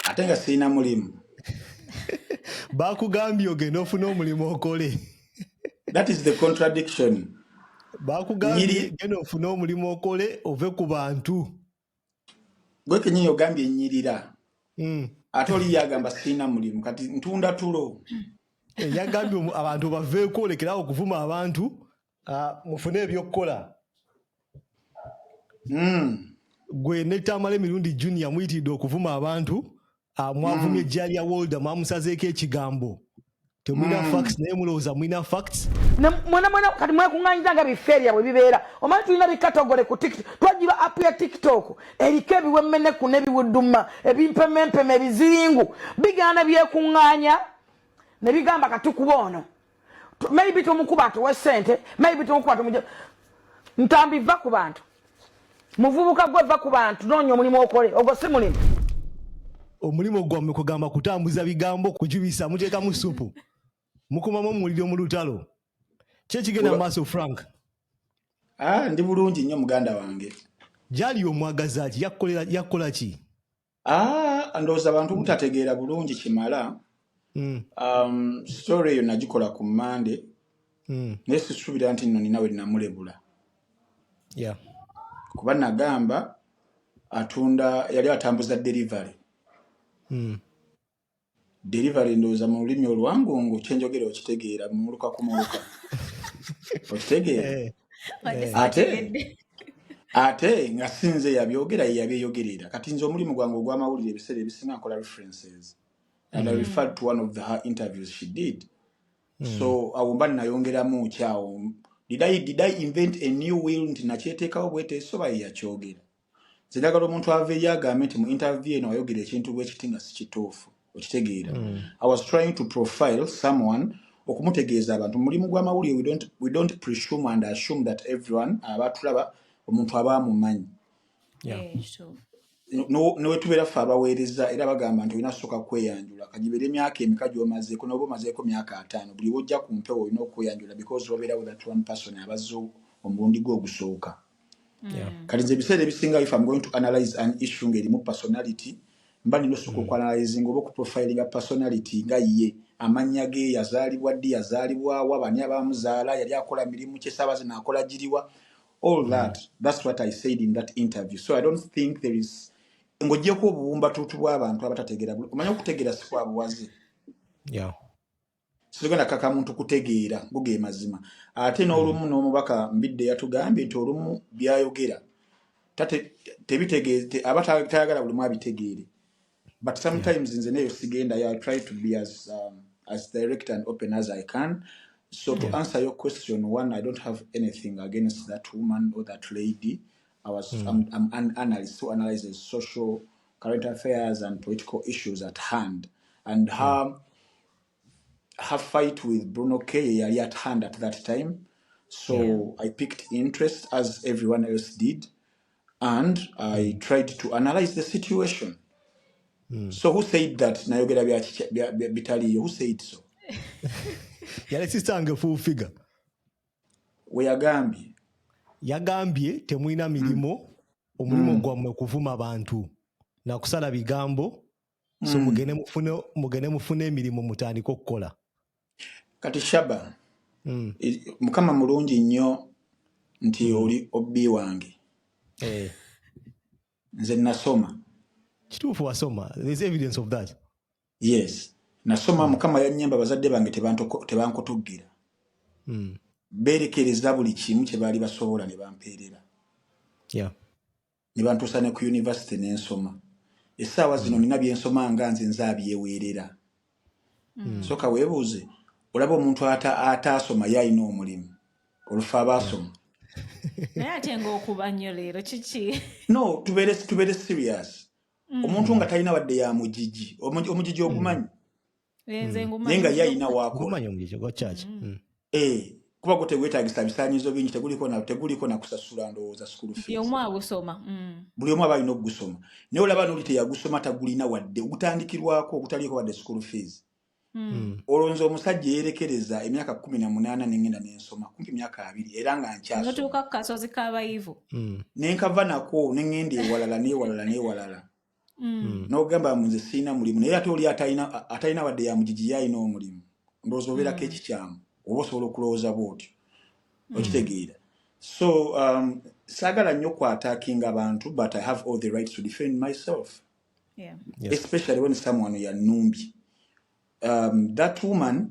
ate nga sirina mulimu bakugambye ogenda ofuna omulimu okole that is the contradiction bakugambye genda ofune omulimu okole ove ku bantu gwe kenyini ogambye enyirira hmm. ate oli yagamba sirina mulimu kati ntunda tulo eh, yagambye abantu baveeko olekerawo okuvuma abantu Ah, mufune ebyokukola hmm. gwe netamala emirundi junior muyitiridde okuvuma abantu ah, mwavumye hmm. ejja lya wolda mwamusazeeko ekigambo temulina hmm. facts naye mulowooza mulina facts mwena mwena kati mwekunganyiza nga bifeerya bwe bibeera omanyi tulina bikatogole ku tiktok twajiba app ya tiktok eriko ebiwemmeneku nebiwuduma ebimpemempeme ebiziringu bigaana byekunganya nebigamba katukuba ono maybe tomukuba atuwe sente maybe tomukuba tumuja ntambi va ku bantu muvubuka gwe va ku bantu noonya omulimu okole ogwo si mulimu omulimu gwammwe kugamba kutambuza bigambo kujubisa muteekamu supu mukumamu omuliro mu lutalo kyekigenda mu maaso frank ah, ndi bulungi nnyo muganda wange gyali omwagaza ki yakukola ki Ah, ndowooza abantu hmm. butategeera bulungi kimala hmm. um, story eyo nagikola ku mande hmm. naye sisuubira nti nno ninawe namulebula kuba nagamba atunda yali atambuza delivery Delivery ndowooza mu lulimi olwangungu kyenjogera okitegeera muluka ku muluka okitegeera eh, eh. ate ate nga sinze yabyogera yeyabyeyogerera kati nze omulimu gwange ogw'amawulire ebiseera ebisinga nkola references and I mm. referred to one of the, her interviews she did mm. so awo mba nayongeramu kyawo did I, did I invent a new will nti nakyeteekawo bweteesoba yeyakyogera nze njagala omuntu aveeyo agambe nti mu interview eno wayogera ekintu bwekiti nga sikituufu okitegeera mm. i was trying to profile someone okumutegeeza abantu mulimu gw'amawulire we don't presume and assume that everyone aba tulaba omuntu aba amumanyi eh, newetubeera ffe abaweereza era bagamba nti olina soka kweyanjula kagibeera emyaka emika gyomazeeko noba omazeeko myaka ataano buli bwojja ku mpewo olina okweyanjula because wabeera with that one person abazze omulundi gwe ogusooka Yeah. Mm. kati nze ebiseera ebisinga if am going to analyze an issue ng'erimu personality mba nina osooka Mm. okuanalyzinga oba okuprofilinga personality nga ye amannya ge yazaalibwa ddi yazaalibwa wa bani abaamuzaala yali akola mirimu ki esaawa zino akola giriwa all Mm. that that's what i said in that interview so i don't think there is ng'ogyeko obuwumbatuutu bw'abantu abatategeera bul- omanyi okutegeera si kwa buwaze Yeah. situgenda kaka muntu kutegeera go ge mazima ate n'olumu hmm. n'omubaka mbidde yatugambye nti olumu byayogera tebitegeeze aba tayagala buli mu abitegeere but sometimes nze neyo sigenda ya try to be as, um, as direct and open as i can so to answer your question one i don't have anything against that woman or that lady i was mm. I'm, I'm an analyst who analyzes social current affairs and political issues at hand and hmm. her mm. her fight with Bruno K yali at hand at that time so yeah. I picked interest as everyone else did and I mm. tried to analyze the situation mm. so who said that nayogera bitaliyo who said so yali sisange full figure we yagambye yagambye temulina mirimu mm. omulimu mm. gwammwe kuvuma bantu nakusala bigambo so mm. mugende mufune mugende mufune emirimu mutandike okukola kati shaba mm. mukama mulungi nnyo nti mm. oli obbi wange eh. nze nasoma kituufu wasoma there's evidence of that yes nasoma mm. mukama yanyamba bazadde bange tebankutugira mm. berekereza buli kimu kyebaali basobola ne bampeerera yeah. ne bantuusa ne ku yunivasite ne nsoma essaawa zino nina bye nsoma nga nze nze abyeweerera Mm. soka webuuze olaba omuntu ata- ataasoma ye alina omulimu olufa abaasoma naye ate ngaokuba nnyo leero kiki no tubeere tubeere serious omuntu nga talina wadde ya mugigi Omugi- omugigi ogumanyi Eh, nze hmm. naye nga ye alina wakola hmm. eh, kuba gwo tegwetagisa bisanyizo bingi teguliko nakusasula ndowooza sukulu buli omu hmm. aba alina okugusoma naye olaba noli teyagusoma tagulina wadde ogutandikirwako ogutaliko wadde sukulu fees olwo nze omusajja eyerekereza emyaka kumi na munaana nengenda nensoma kumpi myaka abiri era nga nkyasotuuka ku kasozi kabayivu nenkava nako nengenda ewalala newalala newalala mm. nogamba nze sirina mulimu naye ate oli atalina wadde yamugigi yalina omulimu ndowooza obeerako mm. ekikyamu oba osobola okulowooza bwotyo mm. okitegeera so um, saagala nnyo kwataking abantu but i have all the rights to defend myself yeah. yes. especially when someone yanumbye um, that woman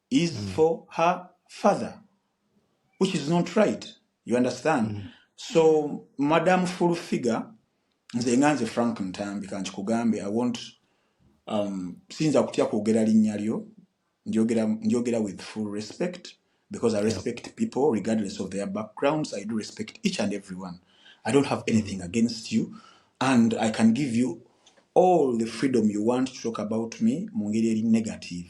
is mm. for her father which is not right you understand mm. so madam full figure nze nga nze frank ntambi kankikugambe i want um, siyinza kutya kwogera linnya lyo njogera with full respect because i respect yeah. people regardless of their backgrounds i do respect each and every one i don't have anything mm. against you and i can give you all the freedom you want to talk about me mu ngeri eri negative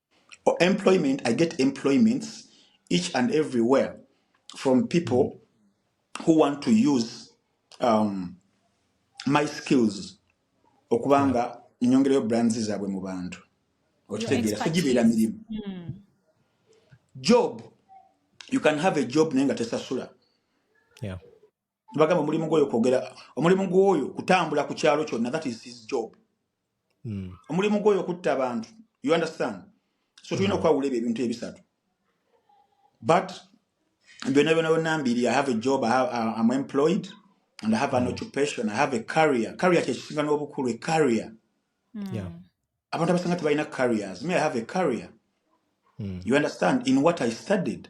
or employment i get employments each and everywhere from people who want to use um, my skills okuba Yeah. nga nyongerayo brands zaabwe mu bantu Your okitegeera so gibeera expertise. mirimu Mm. job you can have a job naye nga tesasula Yeah. bagamba omulimu gwoyo kwogera omulimu gwoyo kutambula ku kyalo kyonna that is his job hmm. omulimu gwoyo kutta abantu you understand so tulina hmm. okwawula ebyo ebintu ebisatu but byona byona byona mbiri i have a job I have, uh, i'm employed and i have an hmm. occupation i have a career career kyekisinga n'obukulu a career abantu abasanga tebalina careers me i have a career you understand in what i studied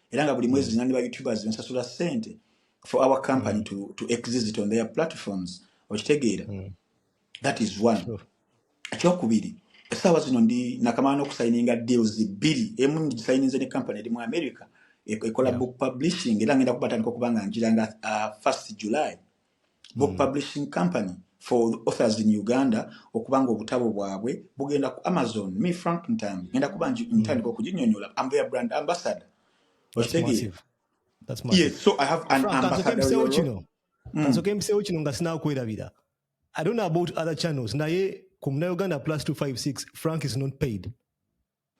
era nga buli mwezi mm. zinani ba youtubers bensasula sente for our company mm. to, to exist on their platforms okitegeera mm. that is one sure. ekyokubiri esaawa zino ndi nakamala nokusayininga deals bbiri emu ngisayininze ne company eri mu america e-, ekola yeah. book publishing era ngenda kubatandika okuba nga njira nga uh, first july Book mm. Publishing Company for the authors in Uganda okuba nga obutabo bwabwe bugenda ku Amazon me Frank Ntambi ngenda kuba mm. ntandika okuginyonyola I'm their brand ambassador okitegeye yes so I have an ambassador kino mm. kansoke mpisewo kino nga sinakwerabira I don't know about other channels naye ku Muna Uganda plus 256 Frank is not paid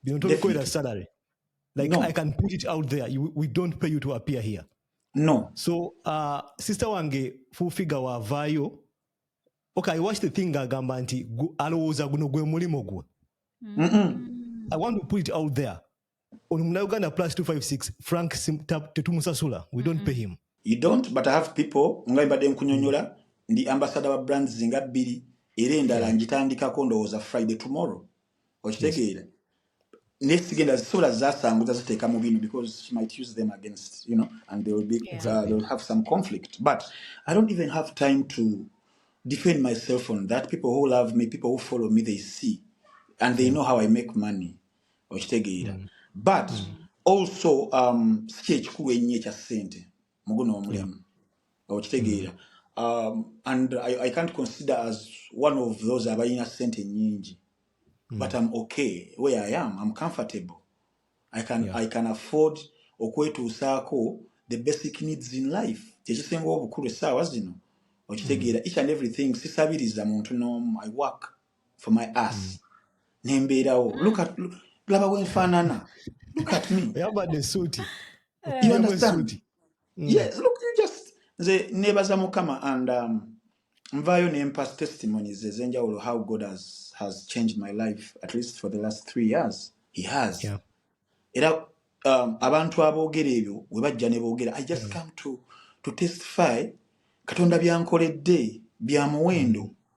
bino tobikolera salary like no. i can put it out there you, we don't pay you to appear here no so uh, sister wange full figure wavaayo okay i watch the thing agamba nti alowooza guno gwe mulimu gwe mm -mm. i want to put it out there ono munauganda plus 256 frank tetumusasula we don't mm-hmm. pay him you don't but i have people nga mbadde nkunyonyola ndi ambasada wa brands nga bbiri era endala ngitandikako ndowooza friday tomorrow okitegeera naye sigenda zisobola zasanguza ziteeka mu bino because she might use them against you know and they will be uh, Exactly. they will have some conflict but i don't even have time to defend myself on that people who love me people who follow me they see and they know how i make money okitegeera but also um si kyekikulu ennyo ekya ssente muguno omulimu okitegeera um, and I, I can't consider as one of those abalina sente nyingi mm. but I'm okay where I am I'm comfortable I can, yeah. I can afford okwetuusaako the basic needs in life kyekisinga obukulu essaawa zino okitegeera mm. each and everything sisabiriza muntu n'omu I work for my ass mm. nembeerawo look at laba wenfaanana look at me yambadde suuti you understand mm. yes look you just nze nebaza mukama and um, nvaayo nempa testimonies ezenjawulo how god has, has changed my life at least for the last three years he has yeah. era um, abantu aboogera ebyo we bajja ne boogera i just mm. come to, to testify katonda byankoledde bya muwendo mm.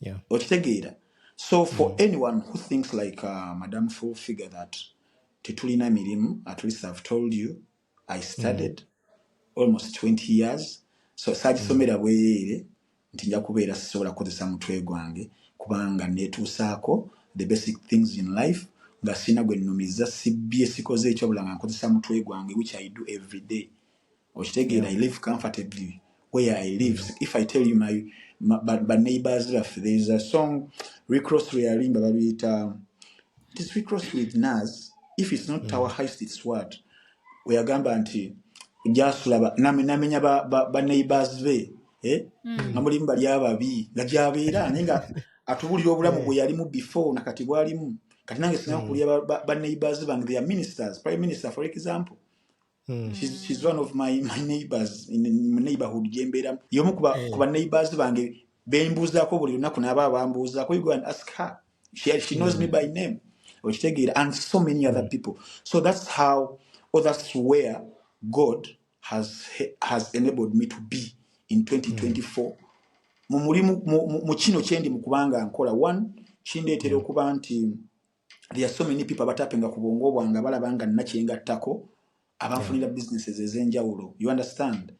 yeah. okitegeera so for Mm. anyone who thinks like uh, madam full figure that tetulina mirimu at least i've told you i Mm. studied almost 20 years so Mm. saagisomera bwereere nti nja kubeera sisobola kukozesa mutwe gwange kubanga neetuusaako the basic things in life nga sirina gwe nnumizza sibbye sikoze ekyobula nga nkozesa mutwe gwange which i do every day okitegeera i live comfortably where i live mm. if i tell you my baneighbors baffe there is a song recross lweyalimba babiyita this recross with nas if it's not mm. our heist it's what weyagamba nti gyasula namenya baneighbors be eh? mm. nga mulimu bali ababi nga gyabeera naye nga atubulira obulamu bwe yalimu before nakati bwalimu kati nange sina mm. kulya baneighbors bange their ministers prime minister for example Mm. She's, she's one of my, my neighbors in, in neighborhood gyembeeramu yomu kuba, hey. Eh. kuba neighbors bange bembuuzaako buli lunaku naaba abambuuzaako you go and ask her she, she knows mm. me by name okitegeera and so many mm. other people so that's how or that's where god has, has enabled me to be in 2024 mm. mu mulimu mu kino kyendi mu kubanga nkola one kindeetera mm. okuba nti there are so many people abatapenga ku bwongo bwange abalaba nga nina kye ngattako abanfunira businesses ez'enjawulo you understand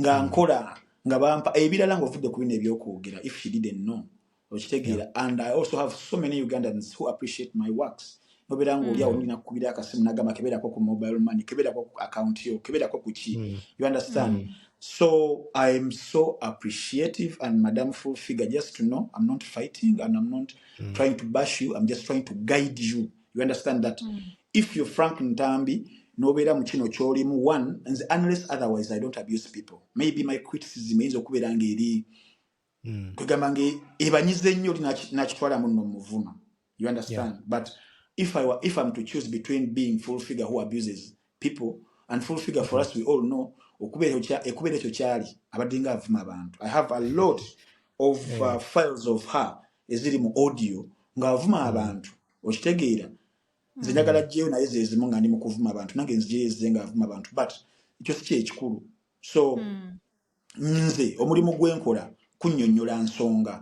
nga hmm. nkola nga bampa ebirala eh, ng'ovudde ku bino ebyokwogera if she didn't know okitegeera and i also have so many ugandans who appreciate my works nobeera nga oli awo hmm. olina kukubira akasimu nagamba kebeerako ku mobile money kebeerako ku account yo kebeerako ku ki hmm. you understand so i am so appreciative and madam full figure just to know i'm not fighting and i'm not mm. trying to bash you i'm just trying to guide you you understand that mm. if you're frank ntambi nobeera mu kino kyolimu one nze unless otherwise i don't abuse people maybe my criticism eyinza okubeera ngaeri mm. kwegamba nga ebanyiza ennyo oli nakitwala muno muvuma you understand yeah. but if, I were, if i'm to choose between being full figure who abuses people and full figure for us we all know ekubeera ekyo kyali abadde nga avuma abantu i have a lot of uh, eh. files of her eziri mu audio ng'avuma hmm. abantu okitegeera nze hmm. njagala jeyo naye zezimu nga ndi mu kuvuma abantu nange nzijeyo ezize ng'avuma abantu but ekyo si kyekikulu so mm. nze omulimu gwenkola kunyonyola nsonga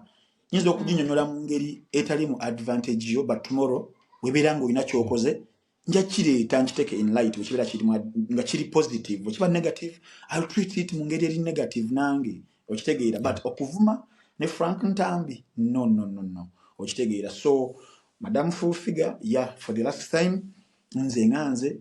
nyinza okuginyonyola mu ngeri etali mu advantage yo but tomorrow webeera nga olina kyokoze nja kireeta nkiteeka in light wekibeera kirimu nga kiri positive wekiba negative ill treat it mu ngeri eri negative nange okitegeera but okuvuma ne frank ntambi no no no no okitegeera so madam full figure ya yeah, for the last time nze nga nze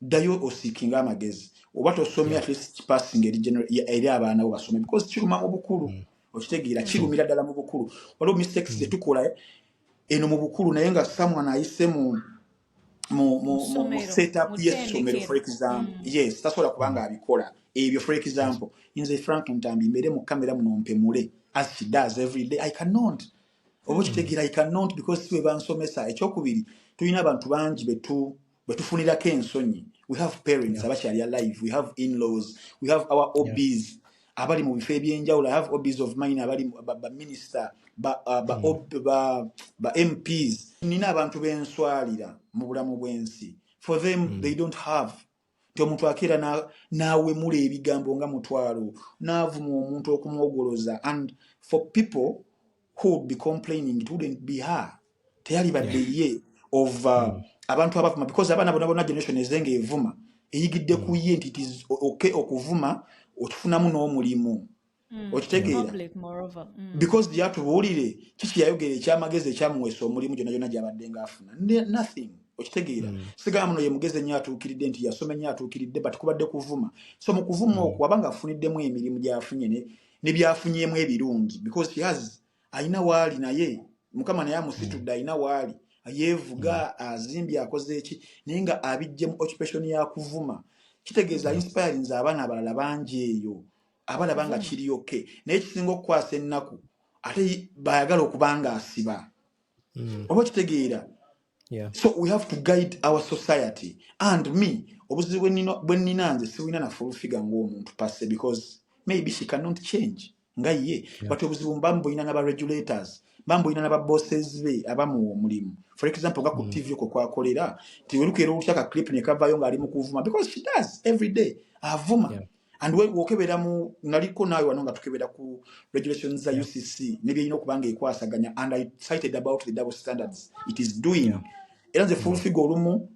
ddayo osiikinga amagezi oba tosomye at least kipassinga eri general- ya- eri abaana bo basome because kiruma mu bukulu Mm. okitegeera Mm. kirumira ddala mu bukulu waliwo mistakes ze Mm. tukola eno mu bukulu naye nga someone ayise mu mu mu mu, mu ssomero set up mu y'essomero for tendekero example Mm. yes tasobola kuba nga abikola ebyo for example nze frank ntambi mbeere mu kamera muno mpemule as she does every day i cannot oba Mm. okitegeera i cannot because si bwe bansomesa ekyokubiri tulina abantu bangi betu bwetufunirako ensonyi we have parents abakyali alive we have inlaws we have our obs abali mu bifo ebyenjawulo i have obs of mine abali baminister bamps hmm. nina abantu benswalira mu bulamu bwensi for them hmm. they don't have nti omuntu akeera n'awemula ebigambo nga mutwalo n'avuma omuntu okumwogoloza and for people who would be complaining it wouldn't be her teyali badde ye of uh, hmm. abantu abavuma because abaana bona bona generation ezenga evuma eyigidde hmm. ku ye nti it is okay okuvuma okifunamu n'omulimu hmm. okitegeera because yatubuulire kiki yayogera ekyamagezi ekyamuweesa omulimu gyona gyona gyabadde nga afuna nothing okitegeera mm. sigala muno yemugezi ennyo atuukiridde nti yasoma ennyo atuukiridde but kubadde kuvuma so mu kuvuma mm. okwo abanga afuniddemu emirimu gyafunye ne byafunyemu ebirungi because she has alina waali naye mukama naye amusitudde mm. alina waali yeevuga mm. azimbye akoze eki naye nga abijje mu occupation ya kuvuma kitegeeza mm. inspirinze abaana abalala bangi eyo abalaba nga kiri ok naye kisinga okukwasa ennaku ate bayagala okubanga asiba oba okitegeera Yeah. so we have to guide our society and me obuzibu bwe nino- bwe nnina nze sibulina na full figure ng'omuntu passe because maybe she cannot change nga ye Yeah. but obuzibu mba mbulina naba regulators mba mbulina naba bosses be abamuwa omulimu for example nga ku Mm. tv okwo kwakolera nti olukeera olutya ka clip ne kavaayo ng'ali mu kuvuma because she does every day avuma Yeah. and we wokebera mu naliko nawe wano nga tukebera ku regulations za UCC ne byeyina okubanga ekwasaganya and I cited about the double standards it is doing yeah. era nze full figure olumu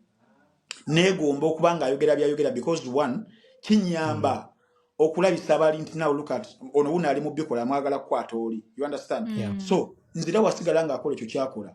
negomba okubanga ayogera byayogera because one kinyamba mm. okulabisa abali nti now look at ono wuno ali mu bikola amwagala kukwata oli you understand yeah. so nzira wasigala nga akola ekyo kyakola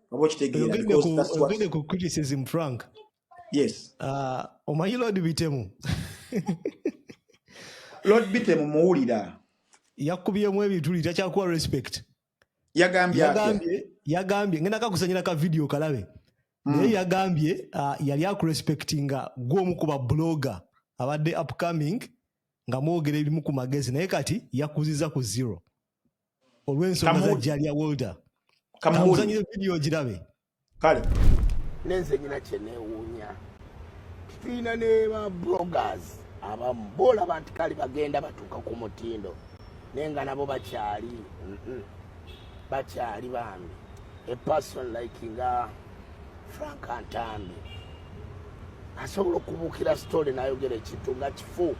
oba okitegeera ogende ku criticism frank yes uh, omanyi lord bitemu lord bitemu muwulira yakubyemu ebituli takyakuwa respect yagambye yagambye ngenda kakusanyira ka video kalabe hmm. naye yagambye uh, yali akurespectinga gwomu kuba blogger abadde upcoming nga mwogera ebimu ku magezi naye kati yakuziza ku zero olw'ensonga za jalia wolder kamuzanyire vidiyo ogirabe kale nenze nyina kyenewuunya tulina ne ba bloggers abamu boolaba nti kali bagenda batuuka ku mutindo naye nga nabo bakyali bakyali bambi a person like nga frank antambi asobola okubuukira sitole nayogera ekintu nga kifu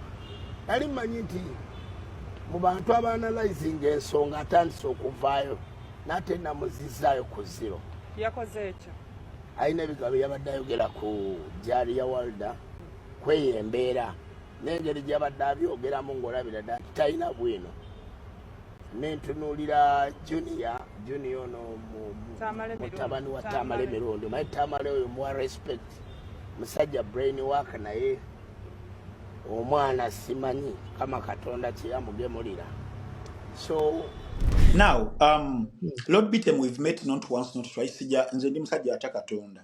nali mmanyi nti mu bantu abaanalizinga ensonga atandise okuvaayo nate namuzizaayo ku ziro yakoze ekyo alina ebigambo yabadde ayogera ku jari ya walda kweyo embeera nengeri gyabadde abyogeramu ngaolabira dda nti talina bwino nentunuulira junia junia ono mutabani wa tamale mirundi maye tamale oyo muwa respect musajja brain work naye omwana simanyi kama katonda kyeyamugemulira so now um, lord bitem we've met not once not twice sija nze ndi musajja atya katonda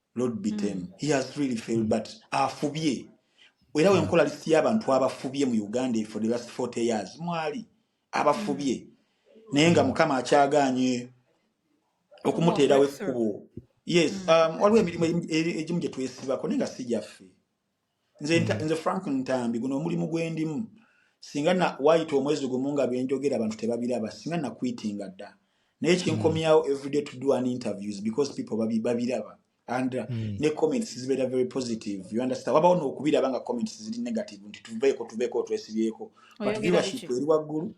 lord be them mm. he has really failed but afubye era mm. wenkola list y'abantu abafubye mu uganda for the last 40 years mwali abafubye mm. naye nga mukama akyaganye okumuteerawo ekkubo yes mm. um, waliwo emirimu egimu gyetwesibako naye nga si gyaffe nze mm. nze frank ntambi guno omulimu gwendimu singa na wayita omwezi gumu nga byenjogera abantu tebabiraba singa na kwitinga dda naye kinkomyawo mm. everyday to do an interviews because people babi babiraba and uh, mm. ne comments zibeera very positive you understand wabawo nokubiraba nga comments ziri negative nti tuveeko tuveeko twesibyeko but viewership eri waggulu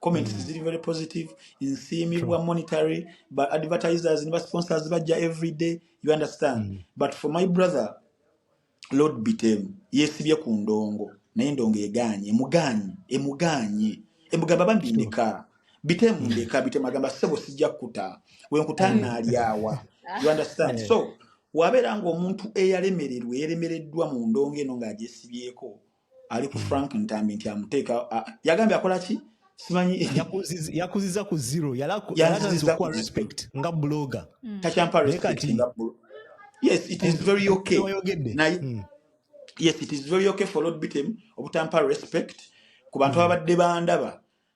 comments mm. ziri very positive nsiimibwa monetary but advertisers ne basponsors bajja everyday you understand mm. but for my brother lord biteru yesibye ku ndongo naye ndongo egaanye emugaanye emugaanye emugamba bambi ndeka bitemu mm. ndeka bitemu agamba sebo sijja kukuta wenkutanaaliawa mm. you understand eh. so wabeera ngaomuntu eyalemererwa eyalemereddwa mu ndongo eno ng'agyesibyeko ali ku hmm. frank ntambi nti amuteeka yagambye akola ki simanyi yakuziza ku zero yalakuwa respect nga bloga hmm. takyampa respect nga yes it is very okay naye hmm. yes it is very okay for lord bitem obutampa respect ku bantu ababadde bandaba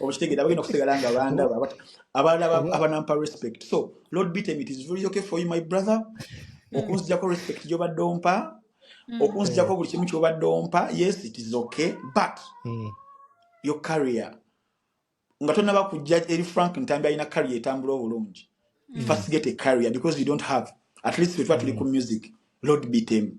okitegera bagenda kusigala nga bandaba abalala abanampa respect so lord bitem it is very okay for you my brother hmm. okunzijako respect gyobadde ompa hmm. okunzijako buli kimu kyobadde ompa yes it is okay but hmm. your carrier nga tonaba kujja eri frank ntambi alina carrier etambula obulungi first get a carrier because you don't have at least wetuba tuli ku music lord bitem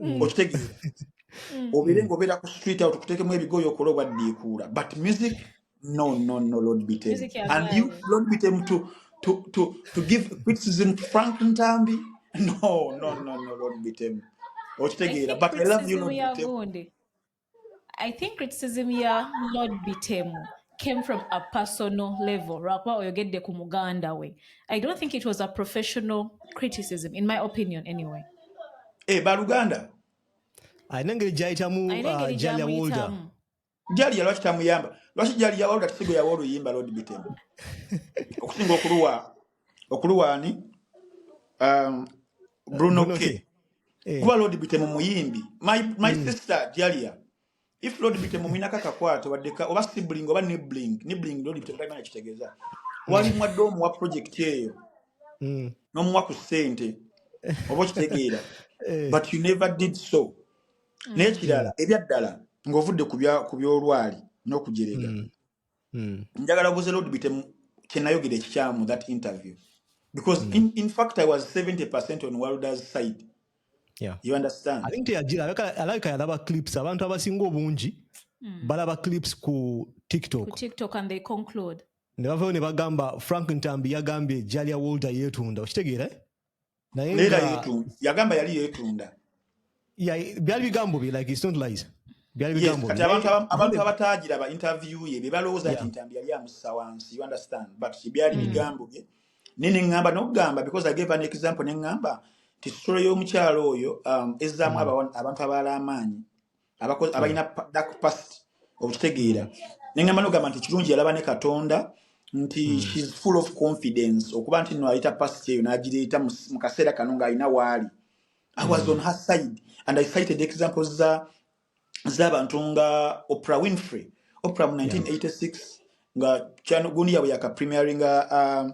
mm. okitegeera mm. obeere nga obeera ku street out kuteekemu ebigoyo okola obaddiikuula but music no no no lord bitem and you lord bitem to, to, to, to give criticism to frank ntambi no no no no lord bitem okitegeera but i love you lord bitem I think criticism ya Lord Bitemu came from a personal level lwakuba oyogedde ku muganda we I don't think it was a professional criticism in my opinion anyway e eh, baluganda alina engeri gyayitamu ah, jalya wolda jalya lwaki tamuyamba lwaki jalya wolda tisigwe yawa oluyimba Lord Bitemu okusinga okuluwa okuluwa ani um, bruno k eh. kuba lord bitemu muyimbi my, my mm. sister jalia if lord bitemu mwinako akakwata obaddeka oba sibling oba nibling nibling lord bitemu talimana kitegeeza mm. wali mwadde omuwa project eyo mm. nomuwa ku sente oba okitegeera eh. but you never did so mm. naye kirala ebyaddala ng'ovudde ku by'olwali n'okujerega mm. mm. njagala guze lord bitemu kyenayogera ekikyamu that interview because mm. in, in fact i was 70 percent on worlders side yeah. you understand i think teyajira alabika yalaba clips abantu abasinga obungi mm. balaba clips ku tiktok ku tiktok and they conclude ne bavayo ne bagamba frank ntambi yagambye jalya wolder yetunda okitegeera eh? naye nga yagamba yali yetunda byali bigambo bye like it's not lies byali bigambo kati abantu abantu abatagira ba interview ye bebalowooza nti ntambi yali amussa wansi you understand but byali mm. bigambo bye nene ngamba nokugamba because i gave an example ne ngamba nti story y'omukyalo oyo um, ezzaamu mm. abantu abaala amaanyi abakozi abalina pa- dark past okitegeera nengamba nogamba nti kirungi yalaba ne katonda nti Mm. shes full of confidence okuba nti no ayita past eyo nagireeta mu mu kaseera kano ng'alina waali i was on Mm. her side and i cited examples za z'abantu nga oprah winfrey oprah mu Yeah. 1986 nga kyano- gundi yabwe yaka premieringa um,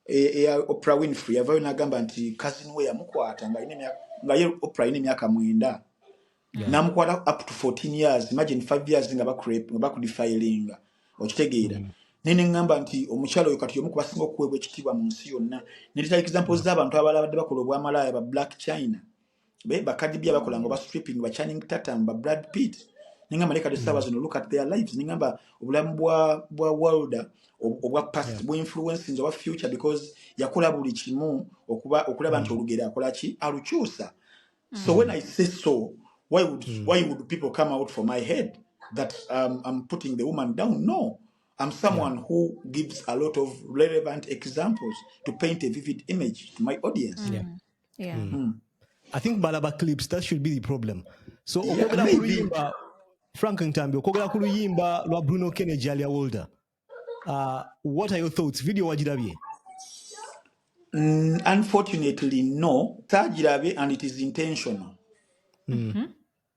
e- eya Oprah Winfrey yavayo nagamba nti cousin we yamukwata nga alina emyaka nga ye Oprah alina emyaka mwenda yeah. namukwata up to 14 years imagine 5 years nga bakurep nga bakudefilinga okitegeera mm. naye neŋŋamba nti omukyala oyo kati y'omu ku basinga okuweebwa ekitiibwa mu nsi yonna netutalikiza mpozi z'abantu abalala badde bakola obwamalaaya ba black china be bakadibya bakola ngo ba stripping ba channing tatum ba brad pitt ninga maleka dosaba mm. zino look at their lives ninga ba obulamu bwa bwa world obwa past yeah. bwa influence nzo wa future because yakola buli kimu okuba okulaba mm. nti olugera akola ki alukyusa mm. so when i say so why would mm. why would people come out for my head that um, i'm putting the woman down no I'm someone yeah. who gives a lot of relevant examples to paint a vivid image to my audience. Yeah. yeah. mm. Mm. i think balaba clips that should be the problem so okwogera yeah, ku luyimba frank ntambi okwogera ku luyimba lwa bruno kennedy alia wolder uh, what are your thoughts video wagirabye mm, unfortunately no tagirabe and it is intentional mm. mm -hmm.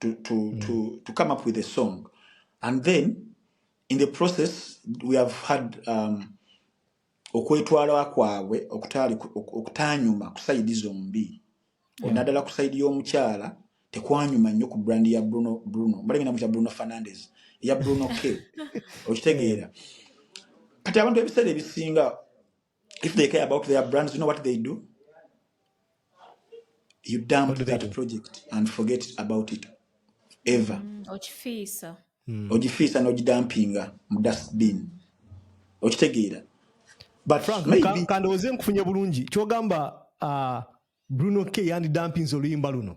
to, to, mm. to, to come up with a song. And then in the process, we have had um, okwetwala kwabwe okutanyuma kusayidi zombi onadala kusayidi yomukyala tekwanyuma nnyo ku brand ya bruno bruno mbalengenda mukya bruno fernandez eya bruno k okitegeera kati abantu ebiseera ebisinga If they care about their brands, you know what they do? You dump that do? project and forget about it ever. Mm, okifiisa. Mm. Ogifiisa n'ogidampinga mu dustbin. Okitegeera. But Frank, maybe... kandowooze nkufunye bulungi. Kyogamba uh, Bruno K yandidampinze oluyimba luno.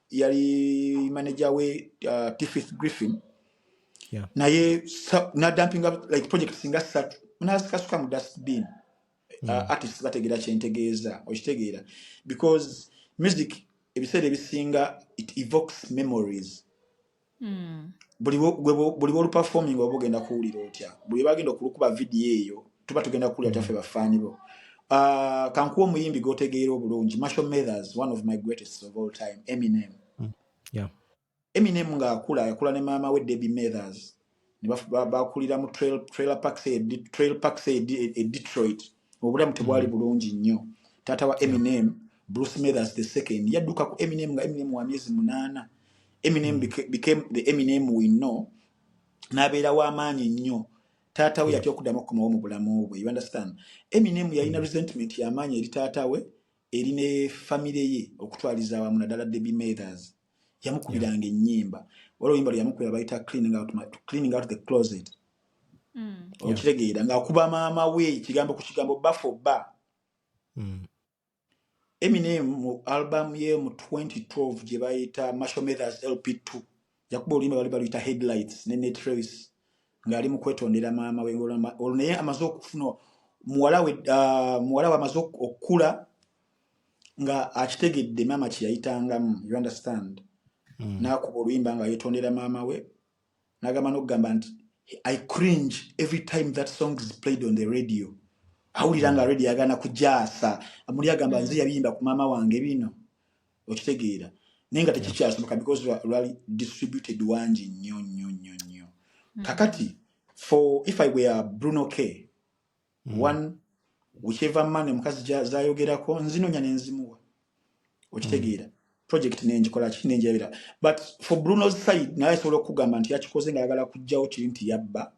yali manager we uh, Tiffith Griffin yeah. naye nadampinga like project singa satu nazikasuka mu dustbin uh, yeah. uh, artist bategeera kyentegeeza okitegeera because music ebiseera ebisinga it evokes memories hmm. buli bwoluperforming oba ogenda kuwulira otya buli bagenda okulukuba vidiyo eyo tuba tugenda kuwulira taffe hmm. bafaani bo ah, kankuwa omuyimbi gotegeera obulungi marshal mathers one of my greatest of all time eminem hmm. eminem ngaakula yakula ne maama we debbie mathers bakulira mu trailer parks e, e, e detroit obulamu tebwali mm. bulungi nnyo taata wa eminem bruce mathers the second yadduka ku eminem nga eminem wa myezi munaana eminem mm. became the eminem we know n'abeera w'amaanyi nnyo taata we yatya okuddamu okukomawo mu bulamu bwe you understand eminem yalina mm. resentment y'amaanyi eri taata we eri ne famire ye okutwaliza awamu naddala debbie mathers yamukubiranga yeah. ennyimba wala oluyimba lwe yamukubira bayita cleaning out, my, cleaning out the closet mm. okitegeera ng'akuba maama we ekigambo ku kigambo bafo ba mm. eminem mu albamu ye mu 2012 gye bayita marshal methers lp2 yakuba oluyimba bali baluyita headlights ne netrace ng'ali mu kwetondera maama we olwo naye amaze okufuna muwala we uh, muwala we amaze okukula nga akitegedde maama kyeyayitangamu you understand mm. nakuba oluyimba nga yetondera maama we nagamba nokugamba nti i cringe every time that song is played on the radio awulira nga mm. radio agana kujaasa muli agamba mm. nze yabiyimba ku maama wange bino okitegeera naye nga tekikyasoboka because lwali distributed wangi nnyo nnyo nnyo nnyo mm. kakati for if i were bruno k mm. one whichever man omukazi zayogerako nzinonya nenzimuwa okitegeera mm. project nengikola ki nenjabira but for bruno's side naye asobola okugamba nti yakikoze nga ayagala kujjawo kiri nti yabba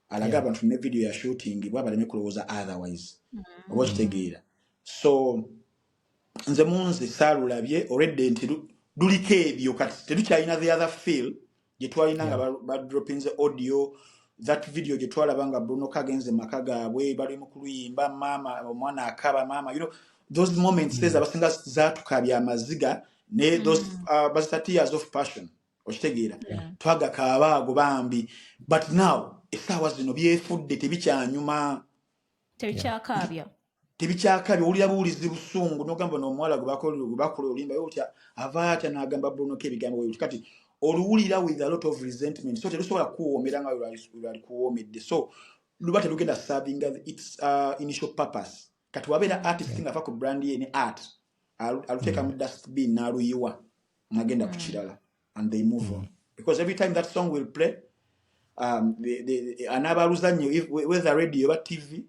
alaga yeah. abantu ne video ya shooting bwa baleme kulowooza otherwise mm. oba okitegeera so nze munze saalulabye already nti lu- luliko ebyo kati tetukyalina the other feel gye twalina nga Yeah. ba- badroppinze audio that video gye twalaba nga bruno kagenze maka gaabwe bali mu kuluyimba maama omwana akaba maama you know, those moments ezo Mm. abasinga zaatukabya amaziga ne those Mm. uh, bazita tears of passion okitegeera Yeah. Yeah. twagakaaba ago bambi but now essaawa zino byefudde tebikyanyuma Yeah. tebikyakaabya tebikyakabi owulira buwulizi busungu nogamba nomuwala gwebakula olimba otya ava atya nagamba bulunoko ebigambo weyoti kati oluwulira with a lot of resentment so terusobola kukuwoomera nga lwalikuwoomedde so luba terugenda serving its uh, initial purpose kati wabeera artist nga ava ku brand ye ne art aluteeka mu mm. dustbin naluyiwa nagenda ku mm. kirala and they move mm. on because every time that song will play um, the, the, anaabaluzannyo whether radio oba tv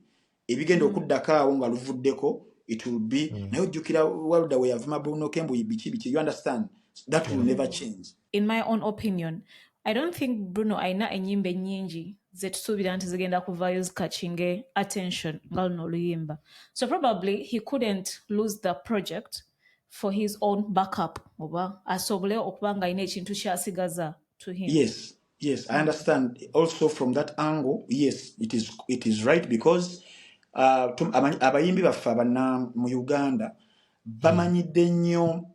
ebigenda mm. okuddako awo nga luvuddeko it will be mm. naye ojjukira walda weyavuma bunoke mbu biki biki you understand that will mm. never change in my own opinion i don't think bruno alina enyimba enyingi zetusuubira nti zigenda kuvaayo zikakinge attention nga luno oluyimba so probably he couldn't lose the project mm. for his own backup oba asobole okuba nga alina ekintu kyasigaza to him yes yes i understand also from that angle yes it is, it is right because uh, abayimbi baffe abana mu uganda bamanyidde nnyo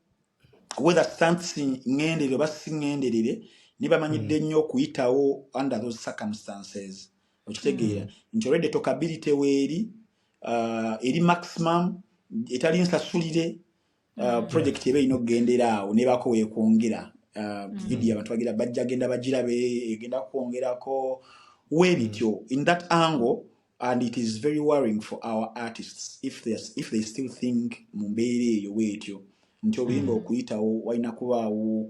whether stansi ngenderere oba si ngenderere nibamanyidde hmm. nnyo okuyitawo under those circumstances okitegeera mm. nti olwedde tokabiri teweeri uh, eri maximum etali nsasulire uh, mm. project eba erina okugendera awo nebaako wekwongera uh, mm. vidiyo abantu bagira bajja genda bagirabe egenda kwongerako webityo mm. in that angle and it is very worrying for our artists if they, if they still think mu mbeera eyo weetyo nti oluyimba mm. okuyitawo walina kubaawo